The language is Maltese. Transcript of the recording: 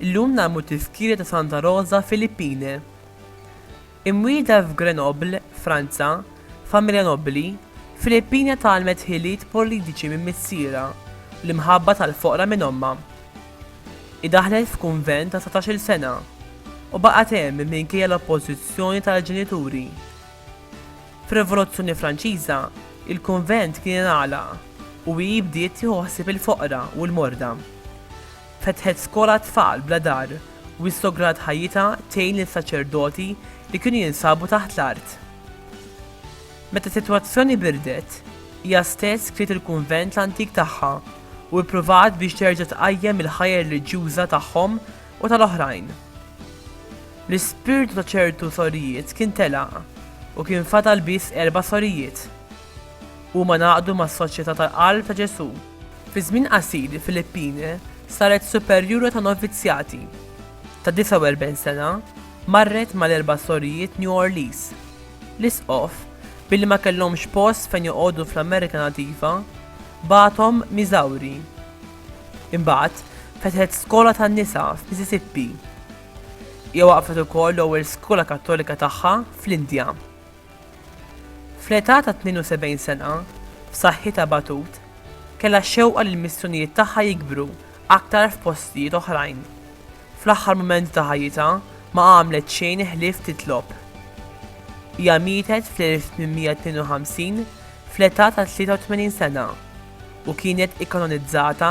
Illum nagħmlu tifkira ta' Santa Rosa Filippine. Imwielda f'Grenoble, Franza, familja nobbli, Filippina tgħallmet ħiliet politiċi minn missierha u l-imħabba tal-foqra minn ommha. Hi daħlet f'kunvent ta' satax-il sena u baqgħet hemm minkejja l-oppożizzjoni tal-ġenituri. Fir-Rivoluzzjoni Franċiża, il-kunvent kien ingħalaq u hi bdiet tieħu ħsieb il-foqra u l-morda. Fetħet skola għat-tfal bla dar u issograt ħajjitha tgħin lil saċerdoti li kienu jinsabu taħt l-art. Meta s-sitwazzjoni birdet, hija stess kriet il-kunvent l-antik tagħha u ppruvat biex terġa' tqajjem il-ħajja reliġjuża tagħhom u tal-oħrajn. L-ispirtu ta' ċertu sorijiet kien telaq u kien fadal biss erba' sorijiet. Huma ngħaqdu mas-Soċjetà tal-Qalb ta' Ġesù. Fi żmien qasir il-Filippine saret superjura ta' novizzjati. Ta' 49 sena, marret mal-erba' sorijiet New Orlees. L-Isqof, billi ma kellhomx post fejn joqogħdu fl-Amerika Nativa, bagħathom Missouri. Imbagħad fetħet skola tan-nisa f'Mississippi. Hija waqqfet ukoll l-ewwel skola Kattolika tagħha fl-Indja. Fl-età ta' 72 sena, f'saħħitha Batut kellha x-xewqa li l-missjonijiet tagħha jikbru aktar f'postijiet oħrajn. Fl-aħħar mumenti ta' ħajjitha ma għamlet xejn ħlief titlob. Hija mietet fl-1852 fl-età ta' 83 sena u kienet ikkanonizzata